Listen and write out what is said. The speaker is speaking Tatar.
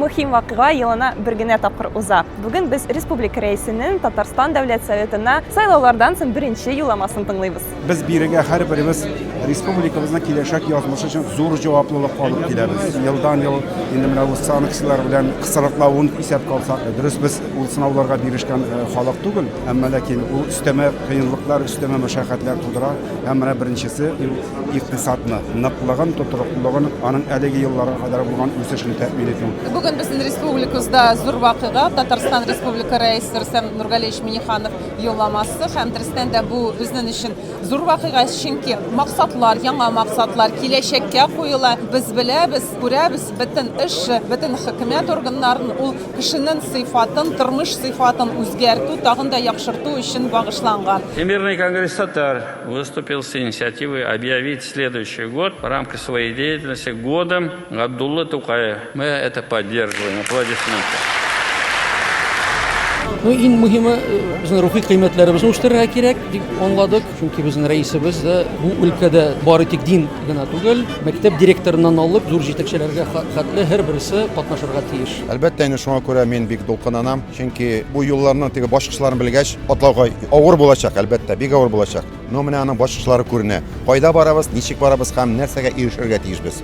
мөһим вакыйга елына бер генә тапкыр уза. Бүген без республика рәисенең Татарстан Дәүләт Советына сайлаулардан соң беренче юлламасын тыңлыйбыз. Без бирегә һәрберебез республикабызның киләчәк язмышы өчен зур җаваплылык алып киләбез. Елдан ел инде менә ул санкцияләр белән кысрыклавын исәпкә алсак, дөрес без ул сынауларга бирешкән э, халык түгел, әмма ләкин ул өстәмә кыенлыклар, өстәмә мәшәкатьләр тудыра. Һәм менә беренчесе икътисадны, ныклыгын, тотрыклылыгын, аның әлеге елларга кадәр булган үсешен тәэмин итү. Бүген безнең республикабызда зур вакыйга Татарстан Республика Рәисе Рөстәм Нургалиевич Миниханов Юлламасы һәм дөрестән дә бу безнең өчен зур вакыйга, чөнки максатлар, яңа максатлар киләчәккә куела. Без беләбез, күрәбез, бөтен эш, бөтен хөкүмәт органнарын ул кешенең сыйфатын, тормыш сыйфатын үзгәртү, тагын да яхшырту өчен багышланган. Всемирный конгресс татар выступил с инициативой объявить следующий год в рамках своей деятельности годом Габдулла Тукай, мы это поддерживаем, аплодисменты. Ну, иң мөһиме, безнең рухи кыйммәтләребезне үстерергә кирәк, дип аңладык. Чөнки безнең рәисебез дә бу өлкәдә бары тик дин генә түгел, мәктәп директорыннан алып, зур җитәкчеләргә хәтле һәр берсе катнашырга тиеш. Әлбәттә, инде шуңа күрә мин бик дулкынланам, чөнки бу юлларның теге башкычларын белгәч, атларга авыр булачак, әлбәттә, бик авыр булачак. Ну, менә аның башкычлары күренә. Кайда барабыз, ничек барабыз һәм нәрсәгә ирешергә тиешбез.